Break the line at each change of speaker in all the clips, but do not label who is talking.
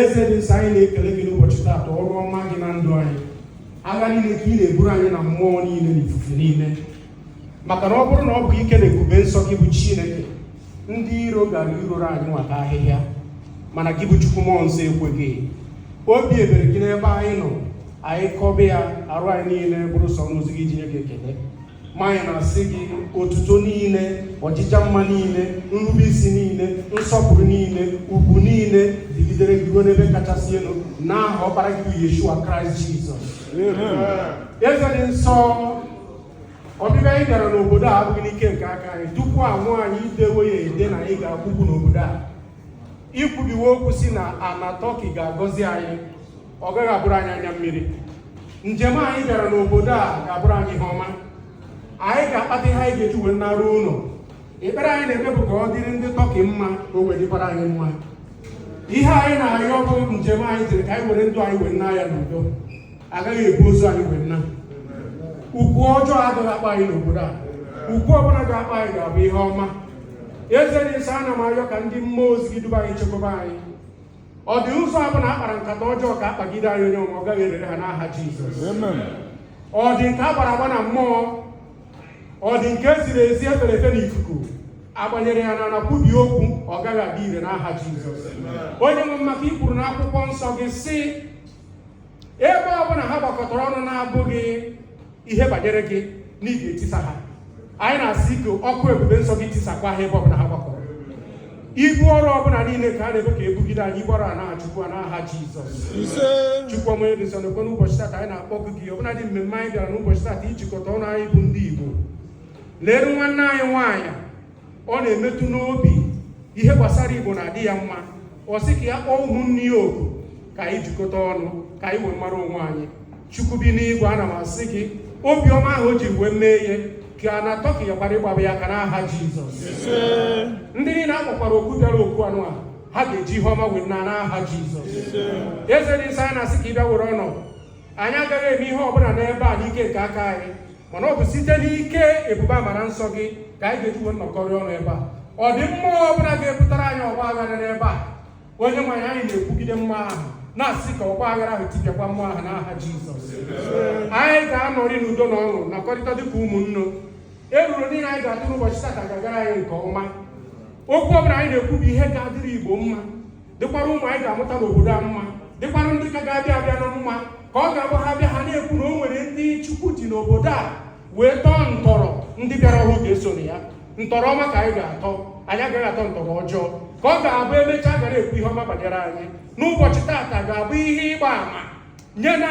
eze dị nsọ anyị na-ekele gị n'ụbọchị taata ọrụ ọma gị na ndụ anyị agha niile ka ị na-eburu anyị na mmụọ niile na ifufe niile maka na ọ bụrụ na ọ bụ ike na ebube nsọ gị bụ chineke ndị iro gara ihoro anyị nwa ka ahịhịa mana gị bụ chukwu mmụọ nsọ ekweghị obi ebere gị n'ebe anyị nọ anyị kọba ya arụ anyị niile bụrụ sọ ọnụ o zughị iji nye gị ekele Ma anyị na-asị gị otuto niile ọjịja mma niile nrube isi niile nsọpụrụ niile ugwu niile dịgidere gị ruo n'ebe kachasị elu n'aha ọkpara gị bụ Yeshua Kraịst Jizọs eze dị nsọ ọbịbịa anyị bịara n'obodo a abụghị n'ike nke aka anyị tupu a mụọ anyị i dewe ya ede na anyị ga-akpọ ụkwụ n'obodo a i kwubiwe okwu sị na ana tọki ga-agọzi anyị ọ gaghị abụrụ anyị anya mmiri njem anyị bịara n'obodo a ga-abụrụ anyị ihe ọma anyị ga-akpata ihe anyị ga-eji wee naruo ụlọ ekpere anyị na-eme bụ ka ọ dịrị ndị tọki mma ka o wee dịkwara anyị mma ihe anyị na-arịọ bụ njem anyị jere ka anyị were ndụ anyị wee naa ya n'udo a gaghị ebu ozu anyị wee naa ụkwụ ọjọọ agaghị akpọ anyị n'obodo a ụkwụ ọbụla ga-akpọ anyị ga-abụ ihe ọma eze dị nsọ ana m arịọ ka ndị mmụọ ozi gị duba anyị chekwaba anyị ọ dị ụzọ ọbụna a kpara nkata ọjọọ ka a kpagide anyị onye ọ gaghị erere ha n'aha Jizọs ọ dị nke a gbara agba na mmụọ ọ dị nke e ziri ezi e fere efe n'ikuku a gbanyere ya anyị na-ekwubi okwu ọ gaghị adị ire n'aha Jizọs onye nwe m maka i kwuru n'akwụkwọ nsọ gị sị ebe ọ bụla ha gbakọtara ọnụ na-abụghị ihe banyere gị na ị ga-etisa ha anyị na-asị ka ọkụ ebube nsọ gị tisakwa ha ebe ọbụla ha gbakọrọ ibu ọrụ ọbụla niile ka a na-ebu ka e bugide anyị ibu ọrụ a naghachikwa n'aha Jizọs Chukwu ọma ebe nsọ n'ekwe n'ụbọchị tata anyị na-akpọ gị gị ọbụla dị mmemme anyị bịara n'ụbọchị tata ijikọta ọnụ anyị bụ ndị Igbo leru nwanne anyị nwaanyị ọ na-emetụ n'obi ihe gbasara igbo na-adị ya mma ọ sị ka ya kpọọ ụmụnne ya oku ka anyị jikọta ọnụ ka anyị wee mara onwe anyị chukwu bi n'igwe ana m asị gị obiọma ahụ o ji wee mee ihe ka ana tọki ya gbara ịgbaba ya ka n'aha jizọs ndị niile a kpọkwara oku bịara oku anụa ha ga-eji ihe ọma wee naa n'aha jizọs eze dị nsọ anyị na-asị ka ị bịa were ọnọdụ anyị agaghị eme ihe ọbụla n'ebe a n'ike nke aka anyị mana ọ bụ site n'ike ebube amara nsọ gị ka anyị ga-eji wee nọkọrị ọnụ ebe a ọ dị mmụọ ọbụla ga-ewepụtara anyị ọgba aghara n'ebe a onye nwe anyị anyị na-ekwugide mmụọ ahụ na-asị ka ọgba aghara ahụ tipịakwa mmụọ ahụ n'aha Jizọs anyị ga-anọrị n'udo na ọṅụ nọkọrịta dịka ụmụnne eruru niile anyị ga-atụ n'ụbọchị taa ga-agara anyị nke ọma okwu ọbụla anyị na-ekwu bụ ihe ga-adịrị Igbo mma dịkwara ụmụ anyị ga-amụta n'obodo a mma dịkwara ndị ka ga-abịa abịa na mma ka ọ ga-abụ ha bịa ha na-ekwu na o nwere ndị chukwu ji n'obodo a wee tọọ ntọrọ ndị bịara ọhụụ ga-eso na ya ntọrọ ọma ka anyị ga-atọ anyị agaghị atọ ntọrọ ọjọọ ka ọ ga-abụ emechaa a ga na-ekwu ihe ọma banyere anyị na ụbọchị taata ga-abụ ihe ịgba ama nye na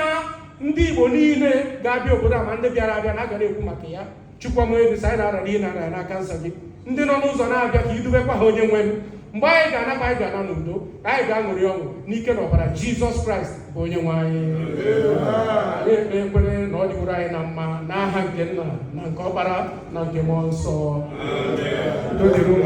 ndị Igbo niile ga-abịa obodo a ma ndị bịara abịa na a ga na-ekwu maka ya chukwama ebisa anyị na-arara ihe na-arara n'aka nsọ gị ndị nọ n'ụzọ na-abịa ka i dubekwa ha onye nwe m mgbe anyị ga-anaba anyị ga-ana n'udo ka anyị ga-aṅụrị ọṅụ n'ike na ọbara jizọs kraịst bụ onye nwe anyị anyị ekpe ekwere na ọ dịworo anyị na mma n'aha nke nna na nke ọkpara na nke mmụọ nsọ udo dịrị unu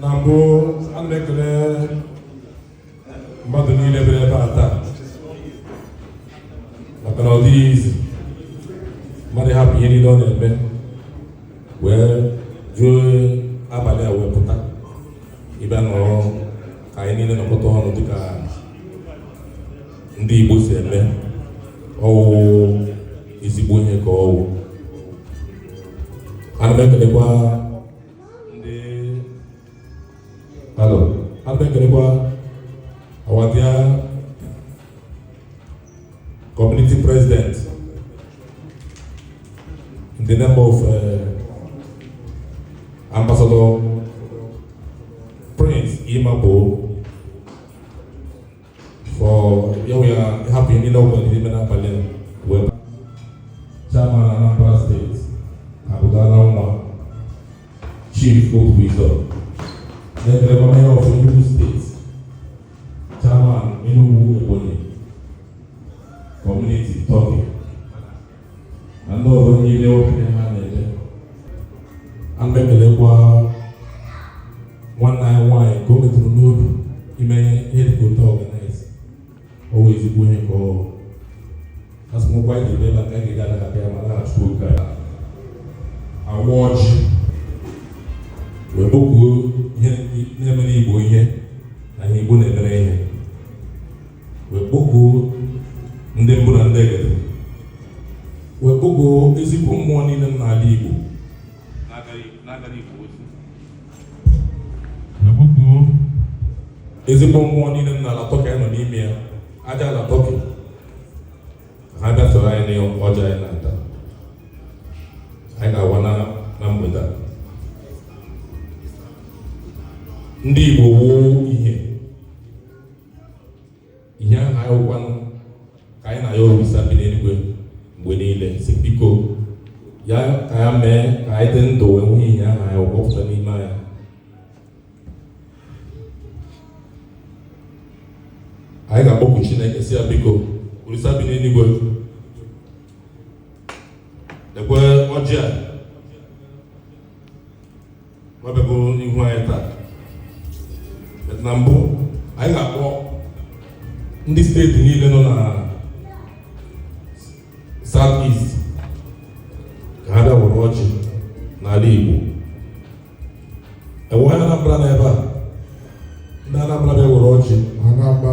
na mbụ a na-ekele mmadụ niile bịara ebe a taa maka na ọ dịghị easy mmadụ hapụ ihe niile ọ na-eme wee juo abalị a wee pụta ịbịa nọrọ ka anyị niile nọkọta ọnụ dịka ndị Igbo si eme ọ wụ ezigbo ihe ka ọ wụ ana m ekelekwa ndị alo ana m ekelekwa our dear community president in the name of uh, ambassador Prince Magboh for ya wee hapụ ihe niile ọ na-eme n'abalị a wee chairman Anambra steeti abụgala nwa chief okwu izọ na-ekele gọvanọ of Enugu steeti chairman Enugu Ebonyi community Turkey na ndị ọzọ niile okenye ha na-ede ana m ekelekwa nwanne anyị nwaanyị ka o metụrụ n'obi ime ihe dịka otu organise ọ wụ ezigbo ihe ka ọ asịmụkwa anyị ji ebe aka ga-ede ala abịa ma na-achụ oge a awa ọjị wee kpọkuo ihe na-emere igbo ihe na ihe igbo na-emere ihe wee kpọkuo ndị mbụ na ndị egede wee kpọkuo ezigbo mmụọ niile nọ n'ala Igbo na-agara Igbo ozi wee kpọkuo ezigbo mmụọ niile nọ n'ala Tọkị nọ n'ime ya aja ala Tọkị ha bịa soro anyị n'ọjị a anyị na-ata anyị ga-awa na mgbede a ndị Igbo wuo ihe ihe ahụ anyị wụ kwanụ ka anyị na-ayọ olisa bi n'eluigwe mgbe niile sị biko ya ka ya mee ka anyị dị ndụ wee nwee ihe ahụ anyị wụkọpụta n'ime anyị anyị ga-akpọku Chineke sị ya biko olisa bi n'eluigwe lekwe ọjị a nwa bịago n'ihu anyị taa but na mbụ anyị ga-akpọ ndị steeti niile nọ na south east ka ha bịa were ọjị n'ala Igbo e nwere Anambra na ebe a ndị Anambra bịa were ọjị Anambra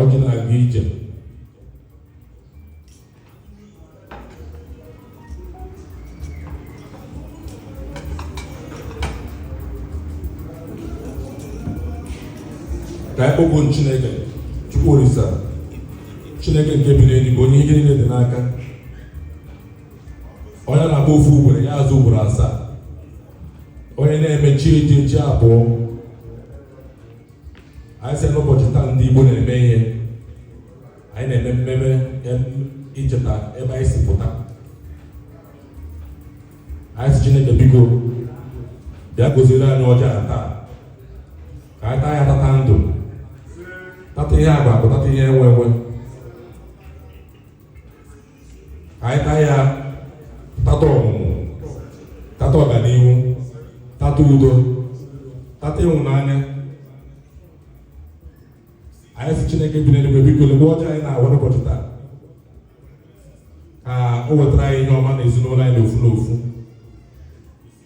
ọjị na-aga ije ka anyị kpọkuo Chineke Chukwu Olisa Chineke nke bi n'eluigwe onye ihe niile dị n'aka onye na-agba ofu ugboro ya azụ ugboro asaa onye na-eme chi ejie chi abọọ anyị sị n'ụbọchị taa ndị Igbo na-eme ihe anyị na-eme mmemme icheta ebe anyị si pụta anyị sị Chineke biko bịa goziri anyị ọjị a taa ka anyị taa ya tata ndụ tata ihe akpa akụ tata ihe enwe enwe ka anyị taa ya tata ọmụmụ tata ọganihu tata udo tata ịhụnanya anyị sị chineke bi n'eluigwe biko lekwe ọjị anyị na-awa n'ụbọchị taa ka o wetara anyị ihe ọma na ezinụlọ anyị n'ofu n'ofu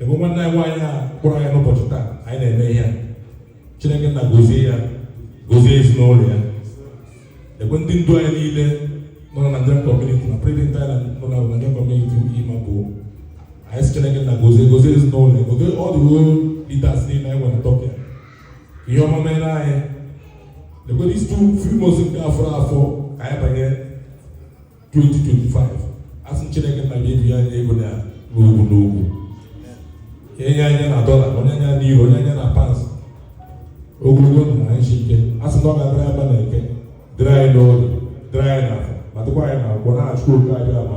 lekwe nwanne anyị nwaanyị a kpọrọ anyị n'ụbọchị taa anyị na-eme ihe chineke nna gozie ya gozie ezinụlọ ya lekwe ndị ndu anyị niile nọ na Nigerian community na prezident anyị nọ na Nigerian community ugwu ma bụ anyị sị chineke nna gozie gozie ezinụlọ ya gozie ọ dị ruo leaders niile anyị nwere tọpụ ya ihe ọma mere anyị lekwe these two few months nke fọrọ afọ ka anyị banye 2025 a sị Chineke nna ya ebunye anyị ego na n'ukwu n'ukwu enye anyị na dọla o nye anyị na euro o nye anyị na pounds ogologo ndụ na ahụ isi ike a sị na ọ ga-adịrị anyị na eke dịrị anyị n'orie dịrị anyị n'afọ ma dịkwa anyị na nkwọ n'aha Chukwu okike Abịama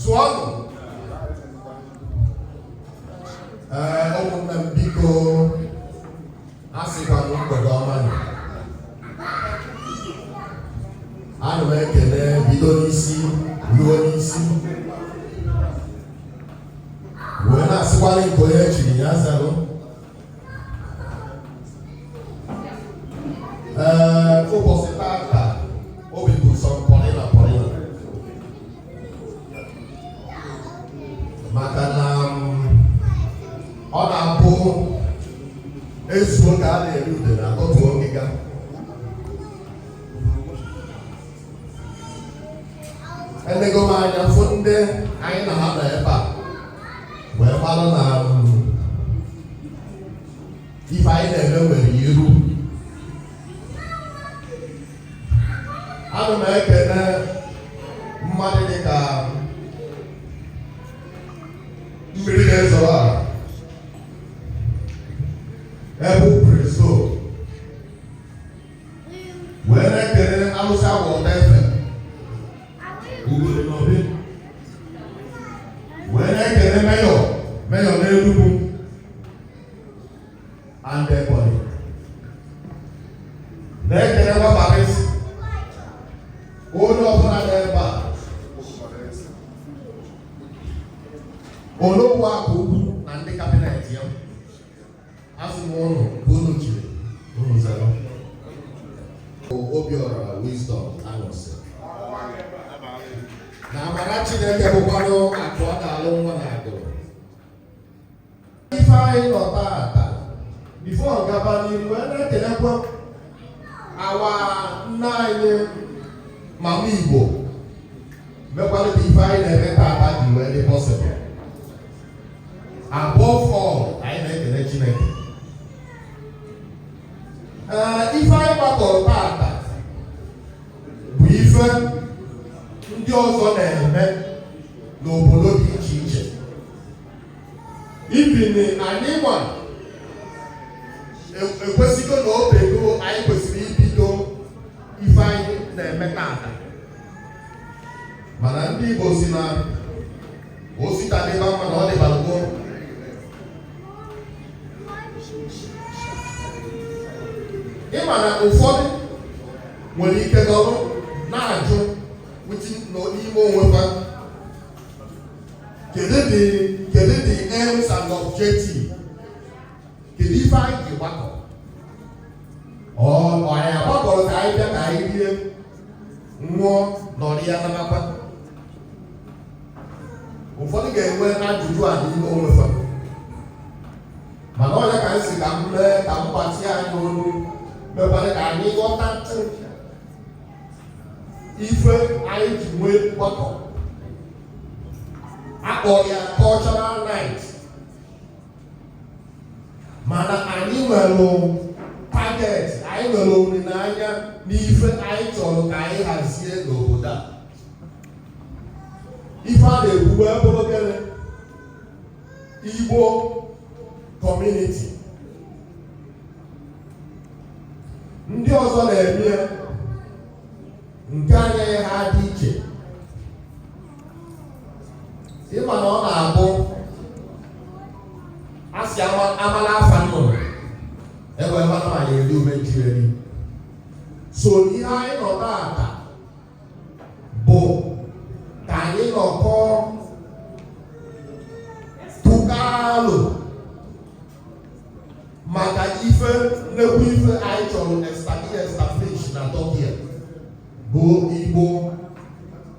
zuonụ ee ụmụnne m biko a sịkwa m mgbede ọma nụ. ana m ekene bido n'isi ruo n'isi wee na-asịkwa na nke onye chiri ya zalụ ee ụbọchị taata obi bụ sọ m pọrịna pọrịna maka na um, ọ na-abụ e zuo ka a na-eri udene a tọtuo ngịga enego m anya fụ ndị anyị na ha nọ ebe a wee mara na um, ife anyị na-eme nwere iru ana m ekene mmadụ dị ka mmiri na-ezoro ọra ebe preso wee na-ekene alụsị agba ọtọ efe wee na-ekene Mayor Mayor n'Enugu and their body. Na-ekelekwa Barrister onye ọbụla n'ebe a Onowu Akụ Ukwu na ndị cabinet ya asị m unu nke unu chiri unu zara Obiora Wisdom Anọsị na amara Chineke bụkwanụ akụ ọ ga-alụ nwa na agụrụ ife anyị nọ taata before gaba n'iru wee na-ekenekwa our nna anyị mama Igbo mekwara ka ife anyị na-eme taata ji wee dị possible above all anyị na-ekene Chineke ee ife anyị gbakọrọ taata bụ ife ndị ọzọ na-eme n'obodo dị iche iche even anyị nwa e, ekwesịgo na o teego anyị kwesịrị ibido ife anyị na-eme taata mana ndị Igbo si na o si taa dịba mma na ọ dịbalụ gboo ịma na ụfọdụ nwere ike dọrọ na-ajụ n'ime onwe ha kedu the kedu the aims and objective kedu ife anyị ji gbakọ ọ anyị agbakọrọ ka anyị bịa ka anyị rie nwụọ nọrịa nabakwa ụfọdụ ga-enwe ajụjụ a n'ime onwe ha mana ọ nya ka anyị si ka m mee ka m gbatị anyị n'olu mekwa ka anyị ghọta ife anyị ji wee gbakọ a kpọrọ ya cultural night mana anyị nwere target anyị nwere olileanya n'ife anyị chọrọ ka anyị hazie n'obodo a ife a na-ekwu wee bụrụ gịnị igbo kọmuniti ndị ọzọ na-eme ya nke anyị agaghị adị iche ị ma na ọ na-abụ a sị amala afa nnụnụ ebe mmanụ ma ya eri ume nchiri so ihe anyị nọ taata bụ ka anyị nọkọọ tụkọọ alo maka ife nnekwu ife anyị chọrọ establish na Turkey bụ Igbo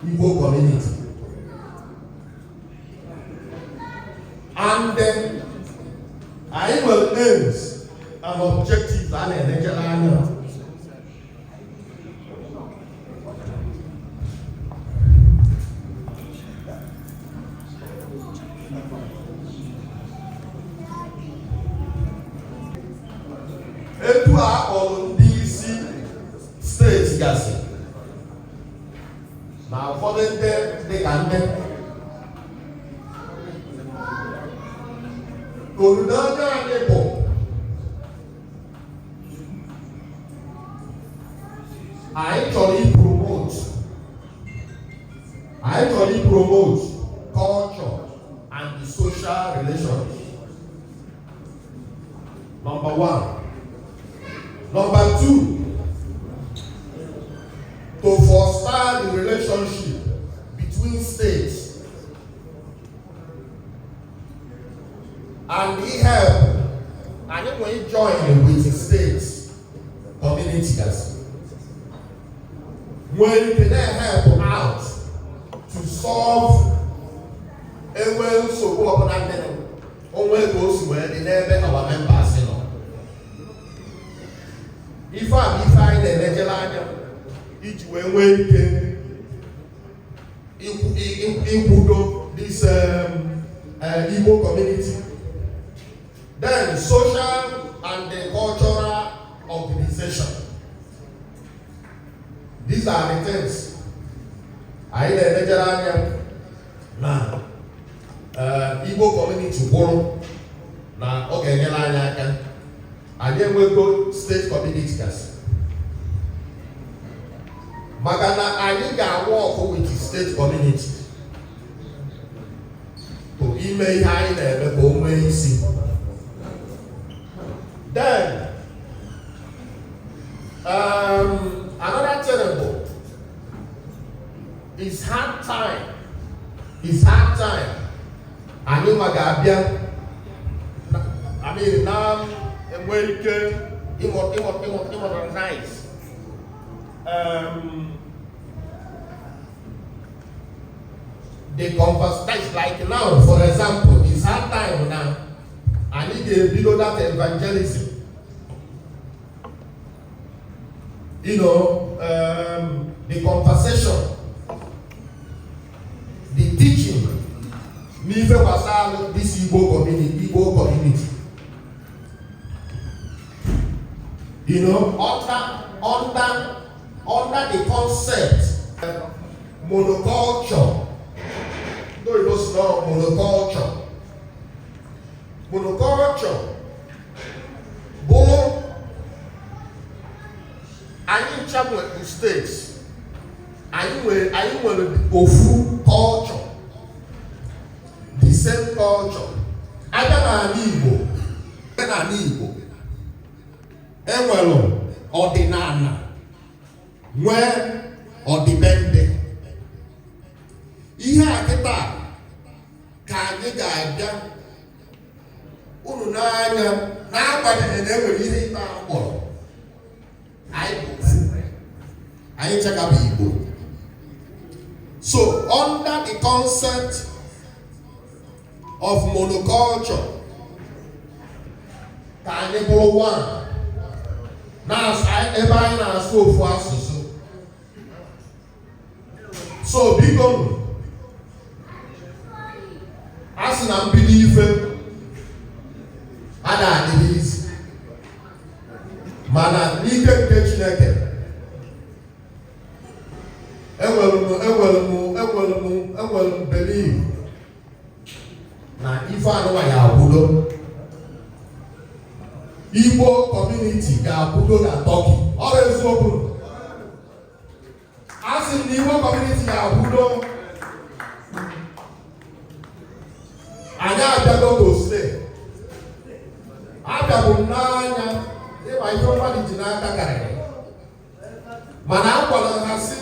Igbo community and anyị nwere aims and objectives a na-enejere anya etu a kpọrọ ndị isi steeti gasị na ụfọdụ ndị dịka ndị olileanya anyị bụ anyị chọrọ ipromote anyị chọrọ ipromote culture and the social relationship number one number two to foster the relationship between states and ihelp anyị na ijoin with state community gasị nwee ike na-help out to solve e nwee nsogbu ọbụla ndị o nwe ka o si wee dị n'ebe our members nọ ife a bụ ife anyị na-elejere anya iji wee nwee ike ịkwụdo this um, uh, Igbo community. Then social and the cultural organization. These are the things anyị na-enejere anya na uh, Igbo community kwụrụ na ọ ga-enyere anyị aka anyị enwego state community gasị maka na anyị ga-awork with state community to ime ihe anyị na-eme ka o nwee isi then um, another terrible is hard time is hard time anyị nwa ga-abịa na-enwe ike ịmodernize um, the conversation like now for example is hard time na anyị ga-ebido that evangelism you know um, the conversation the teaching n'ife gbasara this Igbo community Igbo community you know under under under the concept monoculture ndị oyibo sị na ọ bụ monoculture monoculture bụrụ anyị ncha nwere state anyị nwere anyị nwere ofu culture the same culture a bịa n'ala Igbo a bịa n'ala Igbo e nwere ọdịnala nwee ọdịbendị ihe a kịta ka anyị ga-abịa unu n'anya n'agbanyeghị na e nwere ihe ịta akpọrọ anyị ncha ka bụ Igbo so under the concept of monoculture ka anyị bụrụ one na ebe anyị na-asụ ofu asụsụ so biko a sị na mbido ife a na-adịghị easy mana n'ike nke Chineke enwere m enwere m enwere m enwere m believe na ife a nụwa ya-akwụdo Igbo community ga-akwụdo na Turkey ọ bụ eziokwu a sị m na igwe community ga-abụdo anyị abịago gosle abịabụ m n'anya ịgba ihe mmadụ ji n'aka karịrị mana a gwara ha sị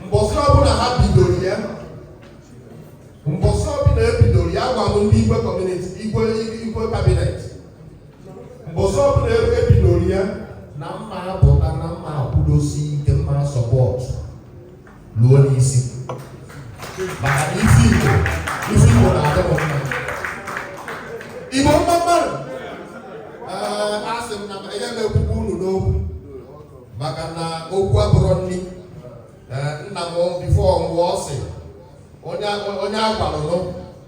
mbọsị ọbụla ha bidoro ya mbọsị ọbụla e bidoro ya gwa m ndị igwe community igwe igwe cabinet mbọsị ọbụla ebe e bidoro ya na mma apụta na mma akwụdosi ike mma support luo n'isi maka na isi igbo isi igbo na-adị m mma igbo mma mma nụ ee asị m na m enye m ekwukwe unu n'okwu maka na okwu abụrọ nri ee nna m before ọ nwụọ ọ sị onye onye a gwalụ nụ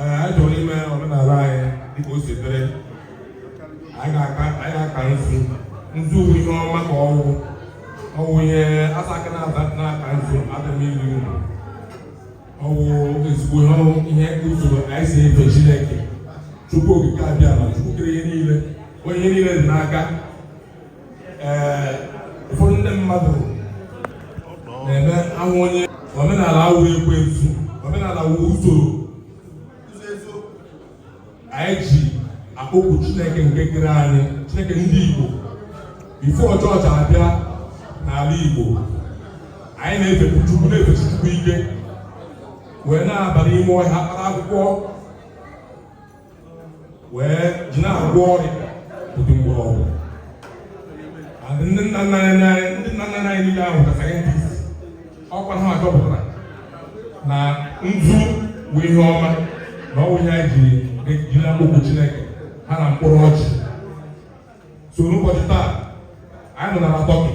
anyị chọrọ ime omenala anyị dịka o si dịrị anyị ga-aka nzu nzu bụ ihe ọma ka ọ wụ ọ wụ ihe a sị aka na-aka nzu adịghị eri uru ọ wụ ezigbo ihe usoro anyị si efe Chineke Chukwu okike abiama Chukwu kere ihe niile ihe niile dị n'aka ụfọdụ ndị mmadụ na-eme anwụ onye omenala a wụ ekwensu omenala a wụ usoro anyị ji akpọkwu chineke nke kere anyị chineke ndị igbo before chọọchị abịa n'ala igbo anyị na-efe chukwu na-efe chukwu ike wee na-aba n'ime ọhịa kpara akwụkwọ wee ji na-agwọ ọrịa ụdị mgbọrọgwụ ndị nna nna anyị ndị nna nna anyị niile ahụ ka scientist ọkwa ha chọpụtara na nzu bụ ihe ọma na ọ bụ ihe anyị ji eji na-akpọku Chineke ha na mkpụrụ ọjị so n'ụbọchị taa anyị nọ n'ala Turkey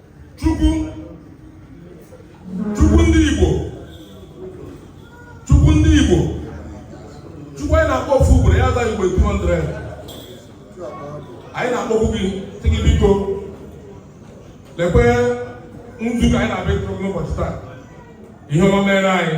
Chukwu Chukwu ndị Igbo Chukwu ndị Igbo Chukwu anyị na-akpọ ofu ugboro ya aza anyị ugboro 200 anyị na-akpọkwu gị sị gị biko lekwe nzu ka anyị na-abịa n'ụbọchị taa ihe ọma meere anyị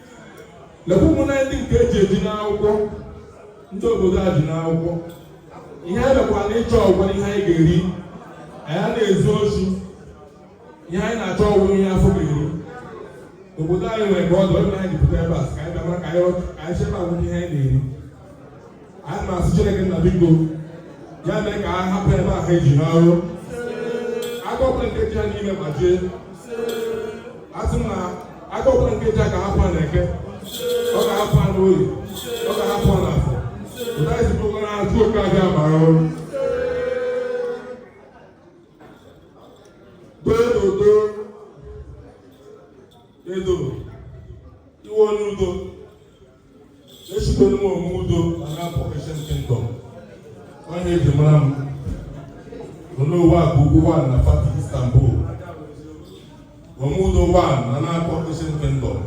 lekwa ụmụnna anyị ndị nke e ji eji n'akwụkwọ ndị obodo a ji n'akwụkwọ ihe anyị bịakwara ịchọ ọ wụkwa ihe anyị ga-eri anyị anaghị ezu oshi ihe anyị na-achọ ọ wụkwa ihe afọ ga-eri obodo anyị nwere ka ọ dị onye anyị jupụta ebe a ka anyị bịa mara ka anyị chebe agwụgwọ ihe anyị na-eri anyị na-asị Chineke nna biko ya mee ka a hapụ ebe ahụ eji n'ọrụ agọpụrụ nkeji ha niile ma jee asị m na agọpụrụ nkeji ha ka hapụ ha n'eke ọ ga-hapụ ha n'oye ọ ga-hapụ ha n'afọ ụda isi bụ na ajụ oke abịa mara ọrụ dododo edo iwe onye udo ezitere m onwe udo na na-apụ Ancient Kingdom onye eji mara m onye ụwa bụ ugwu one na Fatih Istanbul onwe udo one na na-apụ Ancient Kingdom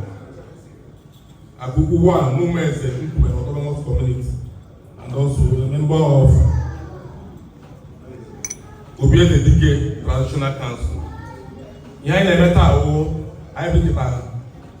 Agugu one Numa is a people in autonomous community and also a member of Obiede Dike Traditional Council. Ihe anyị na-eme taa bụ anyị bịakọtara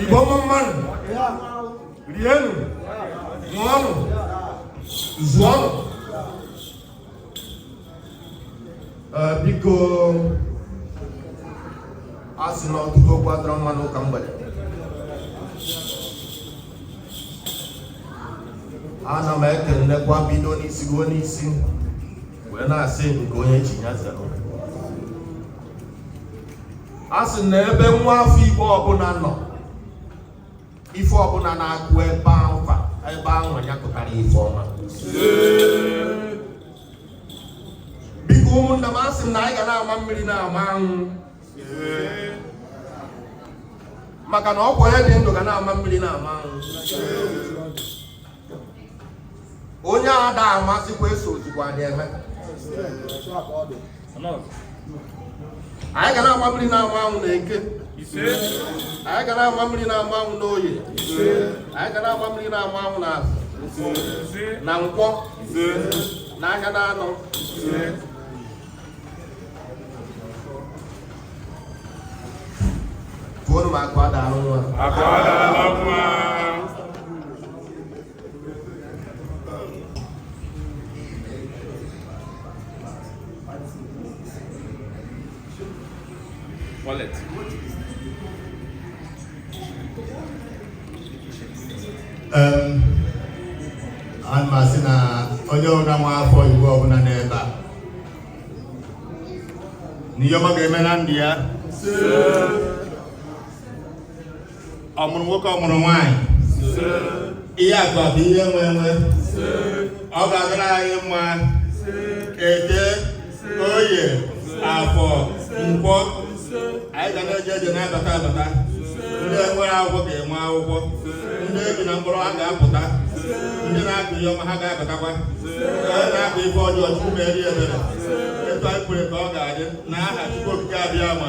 Igbo mma mma nụ rienụ ṅụọnụ zụọnụ biko a sị na ọtụtụ okwu adịrọ mma n'ụka mgbede ana m ekelekwa bido n'isi ruo n'isi wee na-asị nke onye chi ya zere a sị na ebe nwa afọ igbo ọbụla nọ ife ọbụla na-akụ ebe ahụ ebe ahụ ya kụtara ife ọma biko ụmụnna m asị m na anyị ga na-ama mmiri na-ama anwụ maka na ọkwa onye dị ndụ ga na-ama mmiri na-ama anwụ onye ada amazịkwa esozikwa eme anyị ga na-ama mmiri na-ama anwụ na eke anyị ga na-ama mmiri na-ama anwụ na oye anyị ga na-ama mmiri na-ama anwụ na afọ na nkwọ na ahịa na anọ Koro ma akwa da arụ nwa. Akwa da arụ nwa. Wallet. Um, m asị na onye ọbụla nwa afọ Igbo ọbụla n'ebe a na ihe ọma ga-eme na ndụ ya ọmụmụ nwoke ọmụmụ nwanyị ihe akụ akụ ihe enwe enwe ọ ga-adịra anyị mma eke oye afọ nkwọ anyị ga na-eje eje na-abata abata ndị enwerọ akwụkwọ ga-enwe akwụkwọ ndị eji na mkpọrọ ha ga-apụta ndị na-akụ ihe ọma ha ga-abatakwa onye na-akụ ife ọjọọ chukwu meere ya ebere etu anyị kwuru ka ọ ga-adị na aha chukwu okike abịama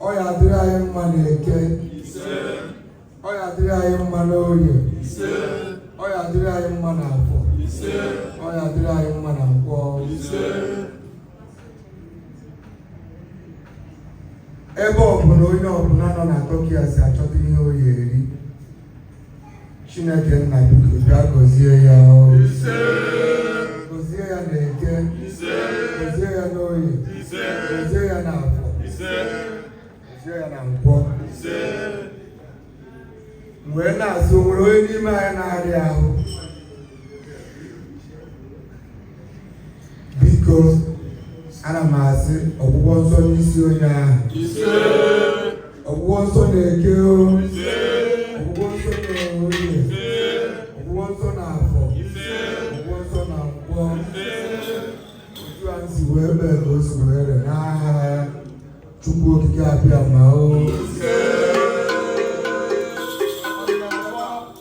ọ ya adịrị anyị mma na eke ọ ya adịrị anyị mma na orie ọ ya adịrị anyị mma na afọ ọ ya adịrị anyị mma na nkwọ ebe ọbụla onye ọbụla nọ na Turkey a si achọta ihe ọ ya eri Chineke nna biko bịa gọzie ya gọzie ya na eke gọzie ya n'oye gọzie ya na afọ gọzie ya na nkwọ m wee na-asị o nwere onye n'ime anyị na-arịa ahụ biko ana m asị ọgwụgwọ nsọ n'isi onye ahụ ọgwụgwọ nsọ na eke ọgwụgwọ nsọ na oye ọgwụgwọ nsọ na afọ ọgwụgwọ nsọ na nkwọ otu a m si wee mee ka o si wee re n'aha chukwu okike abịama o Thank you.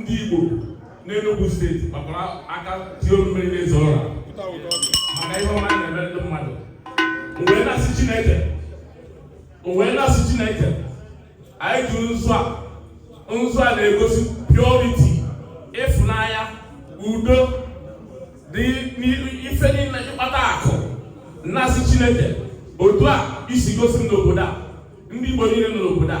ndị Igbo n'Enugu steeti gbakwara aka tie mmiri n'eze ụra maka ihe ọma na-eme ndị mmadụ m wee na-asị Chineke m wee na-asị Chineke anyị tụrụ nzu a nzu a na-egosi purity ịfụnanya udo dị ife niile ịkpata akụ na-asị Chineke otu a i si gosi m n'obodo a ndị Igbo niile nọ n'obodo a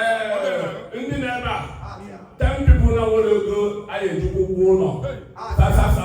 ee ndị nọ ebe a ten people na nwere ego anyị eji kwụọ ụgwọ ụlọ sasasa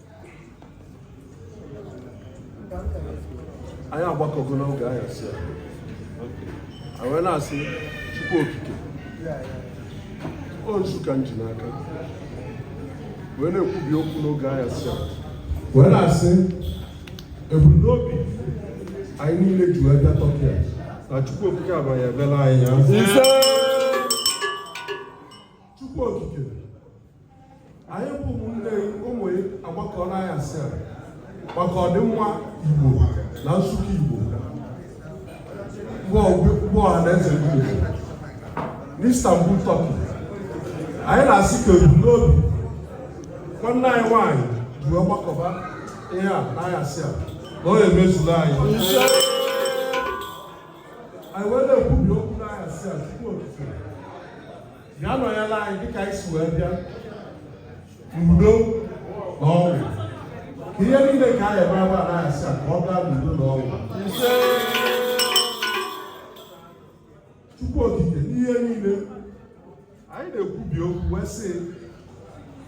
anyị agbakọgo n'oge anyasị a wee na-asị chukwu okike ọ nzu ka m ji n'aka wee na-ekwubi okwu n'oge anyasị a wee na-asị ebumnobi anyị niile ji wee bịa Turkey a na chukwu okike abanye ebela anyị ya chukwu okike anyị bụ ụmụnne ụmụ agbakọ n'anyasị a maka ọdịmma Igbo na-asị ka Igbo bụ ọha na eze Igbo n'Istanbul Turkey anyị na-asị ka ebumnobi nwanne anyị nwaanyị ji wee gbakọba ihe a n'anyasị a na ya emezuru anyị anyị wee na-ekwubi okwu n'anyasị a Chukwu okike bịa nọnyela anyị dịka anyị si wee bịa n'udo na ọṅụ ihe niile ka anyị eme ebe a n'anyasị a ka ọ gaa n'udo na ọṅụ Chukwu okike n'ihe niile anyị na-ekwubi okwu wee sị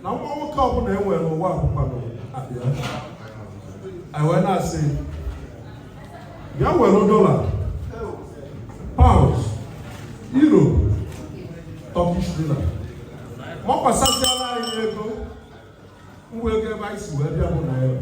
na nwa nwoke ọbụla e nwere n'ụwa bụkwanụ ọbịa anyị wee na-asị ya were dollar pounds euro turkish lira makwasasịala anyị ego ngwa ego ebe anyị si wee bịa bụ naira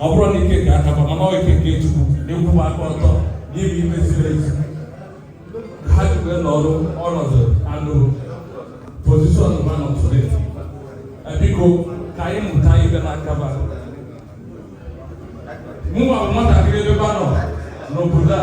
ọ bụrọ na ike nke aka ba mana ọ ike nke chukwu na-ekwuba aka ọtọ n'ime ihe ziri ezi ha jikwe n'ọrụ ọnọdụ anụ position ma nọ tụrụ biko ka anyị mụta ihe n'aka ba mụnwa bụ nwatakịrị ebe ba nọ n'obodo a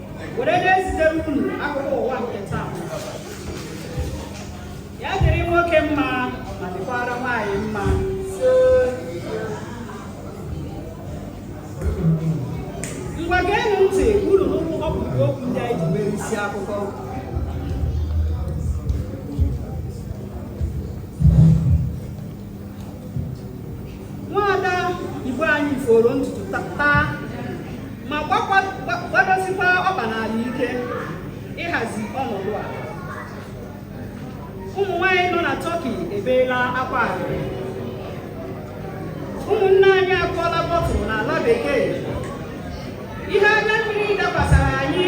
were na-ezitere unu akụkọ ụwa nke taa ya dịrị nwoke mma ma dịkwara nwaanyị mma ngwa geenụ ntị unu nụrụ mkpụrụ okwu ndị anyị ji mere isi akụkọ nwaada igbo anyị foro ntutu taa ma gbadosikwa ọkpa n'ala ike ịhazi ọnọdụ a ụmụ nwanyị nọ na Turkey ebeela akwa arịrị ụmụnne anyị akụọla bọtụlụ n'ala bekee ihe anya mmiri dakwasara anyị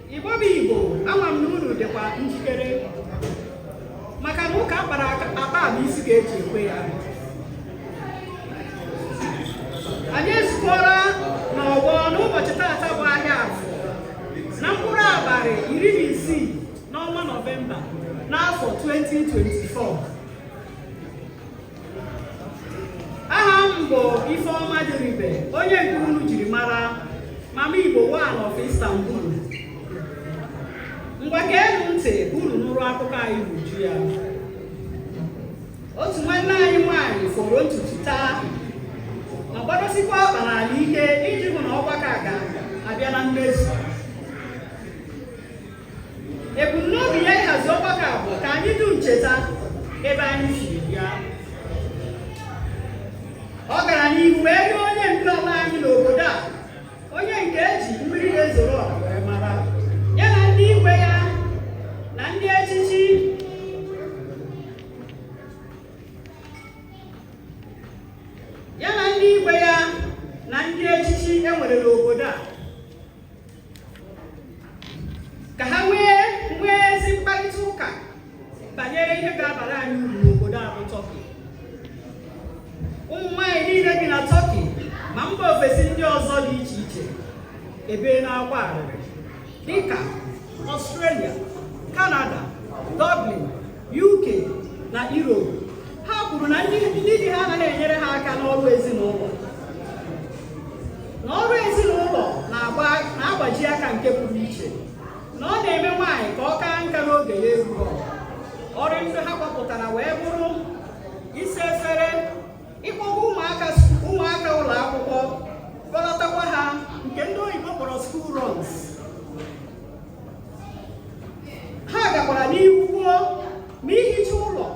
Igbo bụ Igbo ama m na unu dịkwa njikere maka na ụka a kpara akpa bụ isi ka e ji ekwe ya anyị ezukọla n'ọgbọ n'ụbọchị taata bụ ahịa afọ na mkpụrụ abalị iri na isii n'ọnwa nọvemba n'afọ 2024 aha m bụ Ifeọma Diribe onye nke unu jiri mara mama Igbo one of Istanbul ngwa geenụ ntị unu nụrụ akụkọ anyị n'uju ya otu nwanne anyị nwaanyị foro ntutu taa ma gbadosikwa ọkpa n'ala ike iji hụ na ọgbakọ a ga-abịa na mmezu ebumnobi ya ịhazi ọgbakọ a bụ ka anyị dum cheta ebe anyị si bịa ọ gara n'ihu wee rịọ onye ndu ala anyị n'obodo a onye nke e ji mmiri na-ezoro ọha wee mara ya na ndị igwe ya na ndị echichi e nwere n'obodo a ka ha nwee ezi mkparịta ụka banyere ihe ga-abara anyị uru n'obodo a bụ Tọki ụmụ nwaanyị niile bi na Tọki ma mba ofesi ndị ọzọ dị iche iche ebeela akwa arịrị dịka Australia, Canada, Dublin, UK na Europe ha kwuru na ndị di ha anaghị enyere ha aka n'ọrụ ezinụlọ na ọrụ ezinụlọ na-agbaji aka nke pụrụ iche na ọ na-eme nwaanyị ka ọ kaa nka n'oge ya erughị ọrụ ndị ha gbapụtara wee bụrụ ịkpọga ụmụaka ụlọ akwụkwọ kpọlatakwa ha nke ndị oyibo kpọrọ school runs ha gakwara n'ihu kwuo na ihicha ụlọ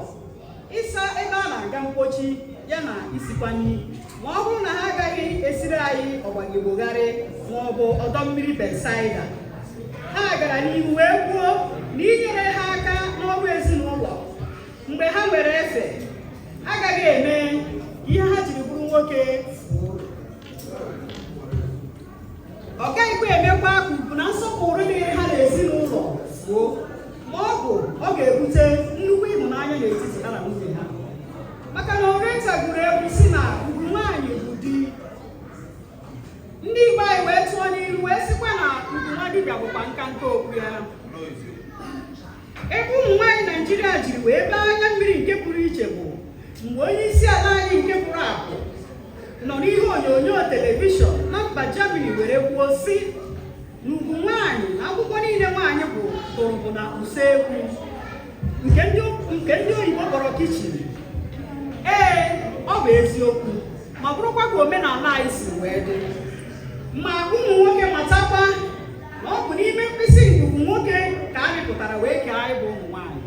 ịsa ebe a na-aga mkpochi ya na isikwa nri ma ọ bụrụ na ha agaghị esiri anyị ọgbagigbogharị ma ọ bụ ọdọ mmiri Betsaida ha gara n'ihu wee kwuo na inyere ha aka n'ọrụ ezinụlọ mgbe ha nwere efe agaghị eme ihe ha jiri bụrụ nwoke ọ gaghịkwa emekwa ka ugwu na nsọpụrụ dịrị ha n'ezinụlọ gboo ma ọ bụ ọ ga-ebute nnukwu ịhụnanya n'etiti ha na nwunye ha maka na Oriental gụrụ egwu si na ugwu nwaanyị bụ di ndị Igbo anyị wee tụọ n'ilu wee sịkwa na ugwu nwa dibịa bụkwa nka nke okwu ya Ebe ụmụ nwaanyị Naijiria jiri wee bee anya mmiri nke pụrụ iche bụ mgbe onye isi ala anyị nke pụrụ apụ nọ n'ihe onyonyo telivishọn na mba Germany were kwuo si na ugwu nwaanyị na akwụkwọ niile nwaanyị gụrụ bụ na usekwu nke ndị oyibo kpọrọ kichin ee ọ bụ eziokwu ma bụrụkwa ka omenala anyị si wee dị ma ụmụ nwoke matakwa na ọ bụ n'ime mkpịsị ngụgụ nwoke ka a mịpụtara wee kee anyị bụ ụmụ nwaanyị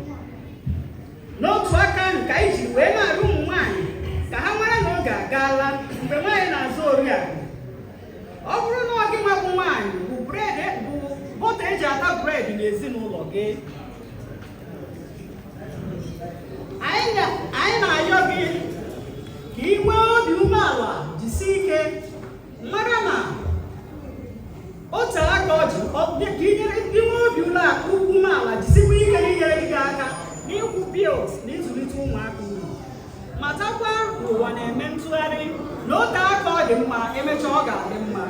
n'otu aka ahụ ka anyị ji wee na-arịọ ụmụ nwaanyị ka ha mara na oge agaala mgbe nwaanyị na-aza oriakụ ọ bụrụ na ọ gị nwa bụ nwaanyị bụ bred e, bụ bọta e ji ata bred n'ezinụlọ gị anyị na-ayọ gị ka ị nwee obi umeala jisie ike mara na otu aka ọ ji ka inyere ndị nwe obi ụlọ akụ ugwu umeala jisikwa ike n'inyere gị aka n'ịkwụ bils na ịzụlite ụmụaka unu matakwa na ụwa na-eme ntụgharị na o tee aka ọ dị mma emechaa ọ ga-adị mma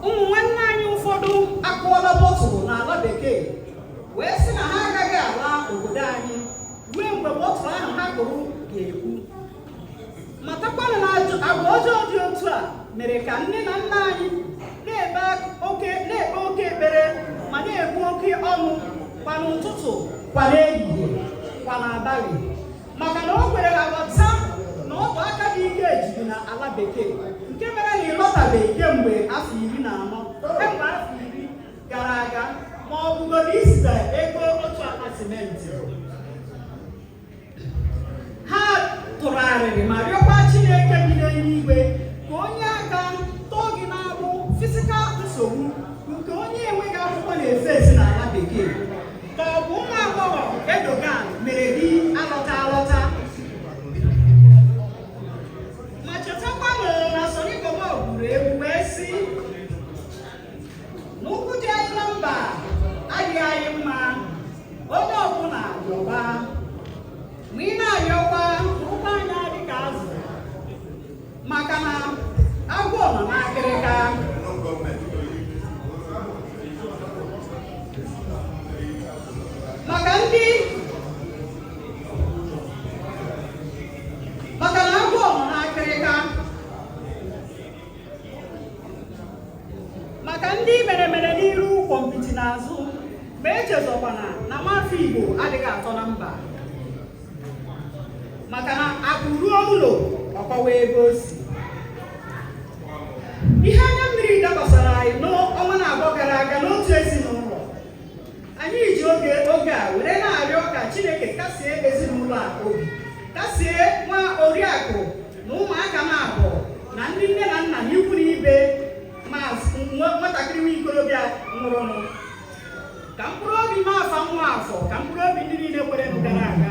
ụmụ nwanne anyị ụfọdụ akụọla bọtụlụ n'ala bekee wee sị na ha agaghị ala obodo anyị ruo mgbe bọtụlụ ahụ ha kụrụ ga-epu matakwanụ na agwa ọjọọ dị otu a mere ka nne na nna anyị na-ekpe oke ekpere ma na-ebu oke ọnụ kwa n'ụtụtụ kwa n'ehihie kwa n'abalị maka na o kweghị ha aghọta na ọ bụ aka dị ike e jiri na ala bekee nke mere na ị lọtabeghị kemgbe afọ iri na anọ kemgbe afọ iri gara aga ma ọ bụgodị izite ego otu akpa simenti ha tụrụ arịrị ma rịọkwa Chineke bi n'eluigwe ka o nye aka tọọ gị n'agbụ fisikal nsogbu nke onye enweghị akwụkwọ na-efe esi n'ala bekee ka ọ bụ nwa agbọghọ Erdogan mere gị alọta alọta ma chetakwa na Sunny Bobo gụrụ egwu wee sị n'ụkwụ dị anyị na mba adịghị anyị mma onye ọbụla yọba ma ị na-ayọkwa mụrụ anya dị ka azụ maka na agwọ nọ n'akịrịka maka ndị mere mere n'iru gwọmpiti n'azụ ma echezọkwana na nwafọ Igbo adịghị atọ na mba maka na akụ ruo ụlọ ọ kọwaa ebe o si ihe anya mmiri dakwasara anyị n'ọnwa naabọ gara aga n'otu ezinụlọ anyị ji oge a were na-arịọ ka Chineke kasie ezinụlọ a obi kasie nwa oriakụ na ụmụaka m abụọ na ndị nne na nna na ikwu na ibe nwatakịrị nwa okorobịa nwụrụnụ ka mkpụrụ obi m afa nwa afọ ka mkpụrụ obi ndị niile kwerenụ gara aga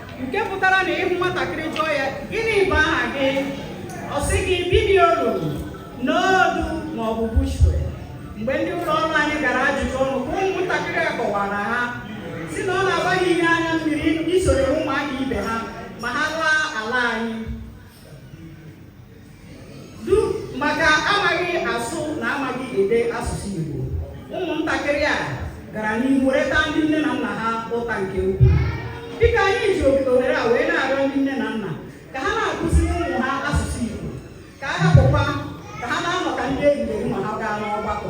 nke pụtara na ị hụ nwatakịrị jụọ ya gịnị bụ aha gị ọ sị gị bibiolu n'odu ma ọ bụ bushwe mgbe ndị ụlọ ọrụ anyị gara ajụjụ ọnụ ka ụmụntakịrị a kọwara ha si na ọ na-abụrị ihe anya mmiri isoro ụmụaka ibe ha ma ha laa ala anyị du maka amaghị asụ na amaghị ede asụsụ Igbo ụmụntakịrị a gara n'ihu wee taa ndị nne na nna ha ụta nke ukwuu dịka anyị ji ohere a wee na-arịọ ndị nne na nna ka ha na-akụzi ụmụ ha asụsụ Igbo ka a hapụkwa ka ha na-anọ ka ndị enyi ma ha gaa n'ọgbakọ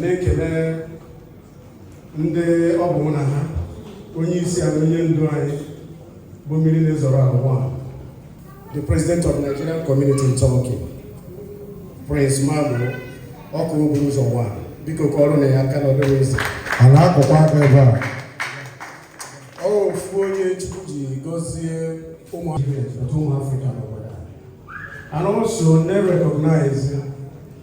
na-ekele ndị ọ bụ na ha onye isi anyị onye ndu anyị bụ mmiri na-ezoro ọha bụkwa the president of Nigerian community in Turkey Prince Magboh ọkụ okporo ụzọ nwa biko kụọrọnụ ya aka na ọ dịghị easy a na-akụkwa aka ebe a ọ bụ ofu onye Chukwu ji gọzie ụmụ Afrịka n'obodo and also na-recognize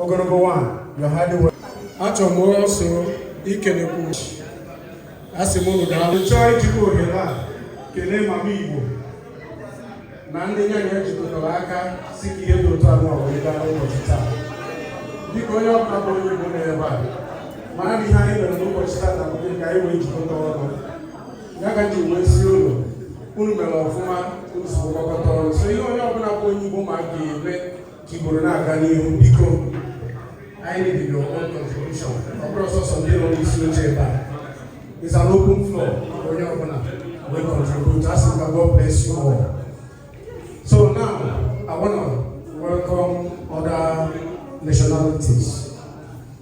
ogologo nwaanyị yọhadiwe achọrọ m also ikelekwu asị m unu daalụ chọọ ijikwa ohere a kelee mama igbo na ndị ya na ha jikọtara aka sị ka ihe dị otu a wee gaa n'ụbọchị taa dịka onye ọbụla bụ onye igbo n'ebe a ma na ihe anyị mere n'ụbọchị taa na bụ ka anyị wee jikọta ọnụ ya ka ji wee sị unu unu mere ọfụma unu si gbakọta ọnụ so ihe onye ọbụla bụ onye igbo ma ga-eme Igbo na-aga n'ihu biko anyị need your own contribution ọ bụrọ sọsọ ndị nọ n'isi oche ebe a is an open floor onye ọbụla will contribute asị m ka God bless you all so now I wanna welcome other nationalities.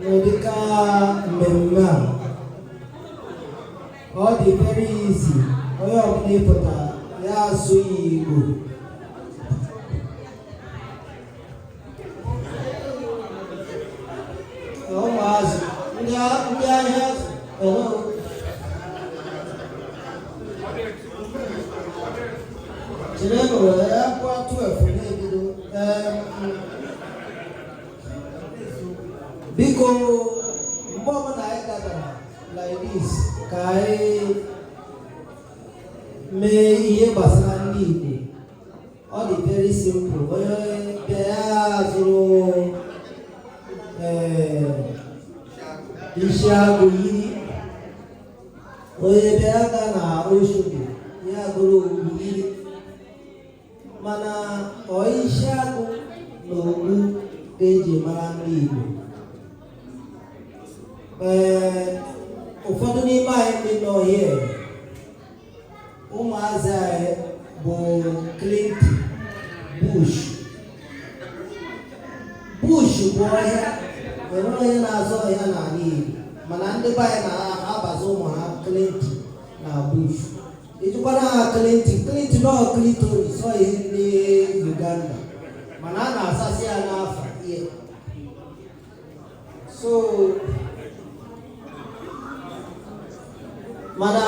N'ụdịka mmemme a, ọ dị very easy onye ọbụla pụta ya asụ ya Igbo ụmụazụ ndị ahịa biko mgbe ọbụla anyị dabara like this ka anyị mee ihe gbasara ndị Igbo ọ dị very simple onye bịa ya zụrụ eh, isi agụ yiri onye bịa ya gaa na Oshodi ya zụrụ okpu yiri mana ọ isi agụ na okpu ka eji mara ndị Igbo ee ụfọdụ n'ime anyị ndị nọ here ụmụazị anyị bụ Clinton Bush Bush bụ ọhịa enwere onye na-aza ọhịa n'ala Igbo mana ndị be anyị na-abazi ụmụ ha Clinton na Bush ịjụkwara ha Clinton Clinton ọ Clinton sọ ihe ndị Uganda mana a na-asasị ya n'afọ ihe so mana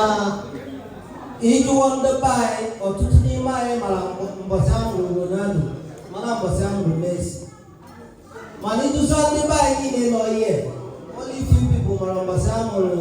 ị jụọ ndị be anyị ọtụtụ n'ime anyị mara mbọchị a mụrụ Ronaldo mara mbọchị a mụrụ Messi mana ị jụzuo ndị be anyị niile nọ here only few people mara mbọchị a mụrụ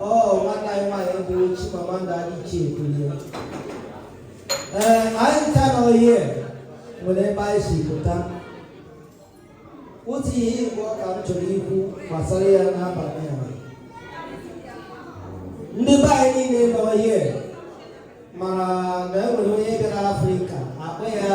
ọ nwanne anyị nwaanyị bụ Chimamanda Adichie Ebulie ee anyị ncha na anyị nwere ebe anyị si pụta otu ihe Igbo ka m chọrọ ikwu gbasara ya n'abalị a ndị be anyị niile nọ here mara na e nwere onye bịara Afrịka akpa ya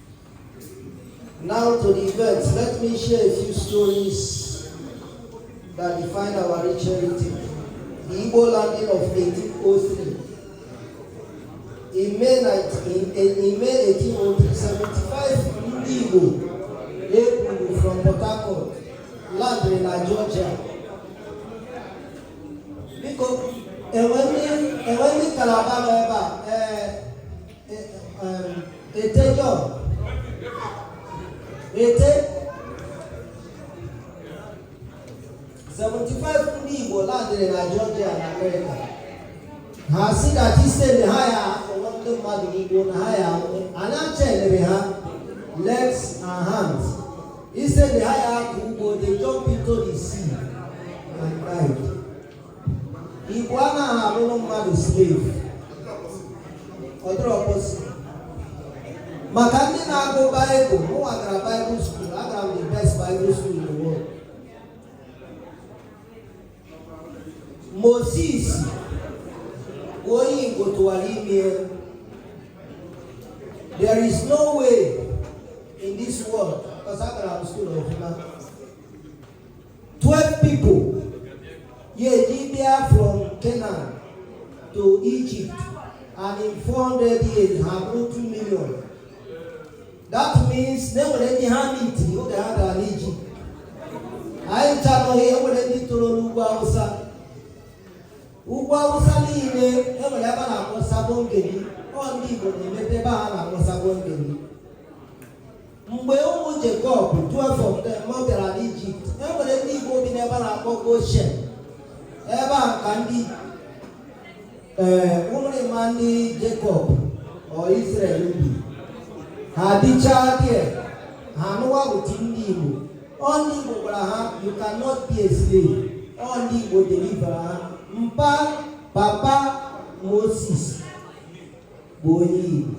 Now to the events, let me share a few stories that define our rich heritage. The Igbo landing of 1803. In May, 19, in, in May 1803, 75 Igbo April from Port Harcourt landed na Georgia. Biko, enwe ndị kalaba nọ ebe a, ee eh, eighteen zero three seventy five ndị Igbo landiri na Georgia na Amerịka ha sị ka instead na ha ya-akọrọ ndị mmadụ ugbo na ha ya anyị a chainiri ha legs and hands instead na ha ya-akọ ugbo they jump into the sea and died. Igbo anaghị abụrụ mmadụ slave ọ dịrọ possible maka ndị na-agụ baịbụl mụnwa gara baịbụl skuul agara m the best baịbụl skuul in the world Moses bụ onye Igbo tụwara ime there is no way in this world because agara m skuul ọfụma 12 people ya-eji bịa from Canaan to Egypt and in 400 years have 2 million that means na enwere ndị ha meetiri oge ha gara n'Egypt anyị chọrọghị enwere ndị toro n'ugwu Awụsa ugwu Awụsa niile enwere ebe a na-akpọ Sabon Gari ọ ndị Igbo na-emete ebe a na-akpọ Sabon Gari mgbe ụmụ Jekọb du afọ mgbe ha bịara n'Ijipt e nwere ndị Igbo bi n'ebe a na-akpọ Goshen ebe a ka ndị ee ụmụrịma ndị Jekọb or Izrel bi ha dịchaa dị ha anụwa ụdị ndị Igbo ọ ndị Igbo gwara ha you cannot be a slave ọ ndị Igbo delivara ha mpa papa Moses bụ onye Igbo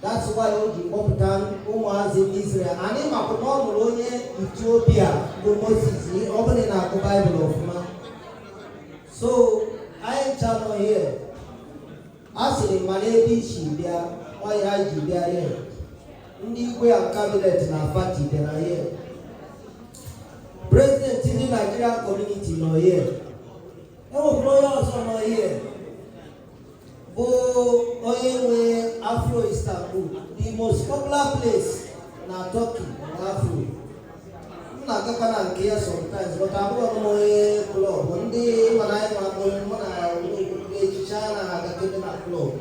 That's why o ji kpọpụta ụmụazị Israel. Anyị makwa na ọ lụrụ onye Etiopia bụ Moses ọ bụrụ ị na-agụ Baịbụl ọfụma. So anyịcha nọ here. A sịrị ma n'ebe i si bịa ọ ya anyị ji bịa here. Ndị igwe a cabinet na pati bịara here. President ndị Nigerian community nọ here. E nwekwara onye ọzọ nọ here. bụ onye nwe afro istanbul the most popular place na turkey na afro m na-agakwa na nke ya sometimes but abụghị m onye club ndị mana anyị ma bụ mụ na echiche a na-agakebe na club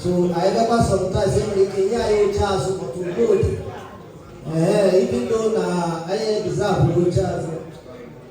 so anyị gakwa sometimes e nwere ike nye anyị oche azụ maka udo dị ee ibido na anyị ebizabụ oche azụ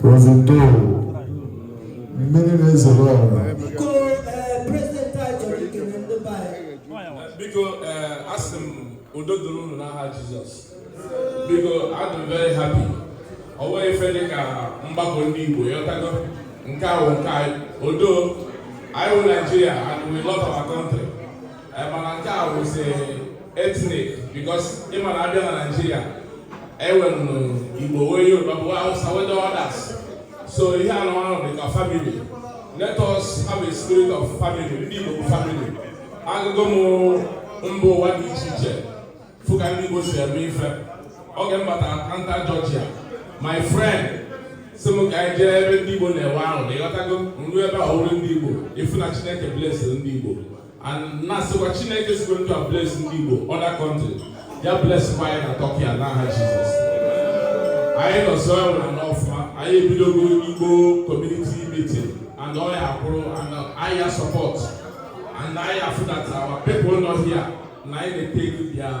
President mmiri na-ezoro ọra biko eh, asị m udo dịrị unu n'aha Jizọs biko adị m very happy ọ nweghị ife dị ka mgbakọ ndị Igbo ị ghọtago nke a bụ nke anyị although anyị wụ Naijiria and we love our country eh, mana nke a wụzi ethnic because ị ma na a bịa na naijiria e nwere igbo nwee yoruba nwee hausa nwee others so ihe a nwa dị ka family let us have a spirit of family ndị igbo bụ family agago m mba ụwa dị iche iche fụ ka ndị igbo si eme ife oge m batara atlanta georgia my friend sị m ka anyị jee ebe ndị Igbo na-enwe ahụ na ị ghọtago m ruo ebe ahụ hụ ndị Igbo ị fụ na Chineke blessịrị ndị Igbo na-asịkwa Chineke sikwa otu a bless ndị Igbo other country ya blesskwa anyị na Turkey a n'aha Jizọs anyị nọsọ enwere na ọfụma anyị ebidogo Igbo community meeting and ọ ya-akwụrụ and anyị ya support and anyị afụ that our people nọ here na anyị na-etake their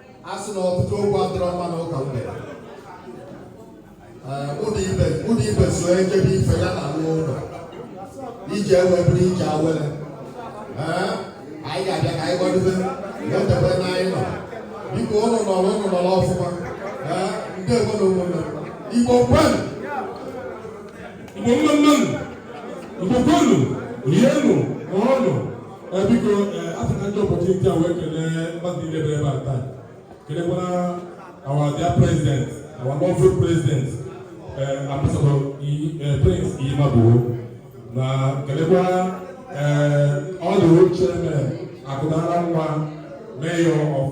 a sị na ọtụtụ okwu adịrọ mma na ụka mgbede ụdị ibe so ejebe ife ya na nwa ụlọ ije ewee bụrụ ije awele anyị ga-abịa ka anyị gbadobe wetebe na anyị nọ dịka ụlọ nọrọ ụlọ nọrọ ọfụma ndị igwe na ụmụnne igbo kwenu igbo mma nụ igbo kwenu rienụ ṅụọnụ biko achọrọ m iji opportunity a wee kelee mmadụ niile bịara ebe a taa kelekwa our dear president our lovely president ambassador prince imabuo na kelekwa our chairman akụnara nwa mayor of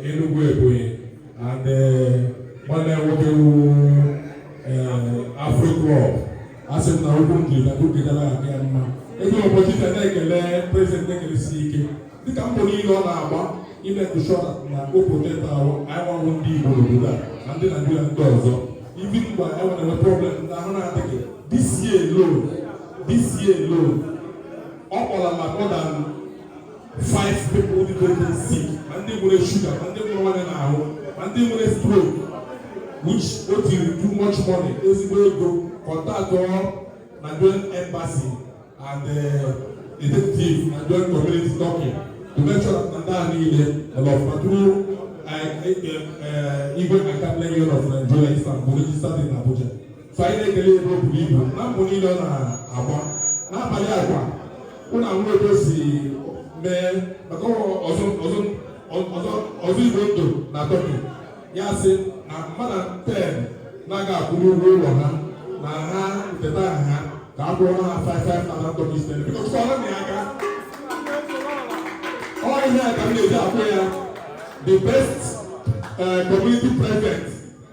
Enugu Ebonyi and nwanne nwoke nwe Afro Club asị m na okwu m jiri dagbu gedara adị ya mma eji m ụbọchị taa na-ekele prezident ekelesi ike dịka mbọ niile ọ na-agba ị make sure na ọ protect ahụ anyị gbanwe ndị igbo n'obodo a na ndị naijiria ndị ọzọ ibi mgbe e nwere enwe problem ndị ahụ na-adịghị this year alone this year alone ọ kpọlana more than five people ndị go dey sick ma ndị nwere sugar ma ndị nwere ọrịa n'ahụ ma ndị nwere stroke which o tiri too much money ezigbo ego contact ọ Nigerian embassy and uh, executive Nigerian community Turkey to make sure that ndị a niile ọlọ faturu igwe akademi of Nigeria Istanbul registered in Abuja. so anyị na-ekele ebe o buru ibu na mbọ niile ọ na-agba n'abalị agwa ụlọ ahụ ebe si mee maka ọzọ ọzọ ọzọ ọzọ igwe ndụ na tọki ya sị na mmadụ ten na ọ ga-akwụrụ ụgwọ ụlọ ha na ha teta ha ga-akwụrụ ha five five thousand dollars ten because ọ naghị aka ọ ihe a ka m na-eji akpọ ya the best uh, community president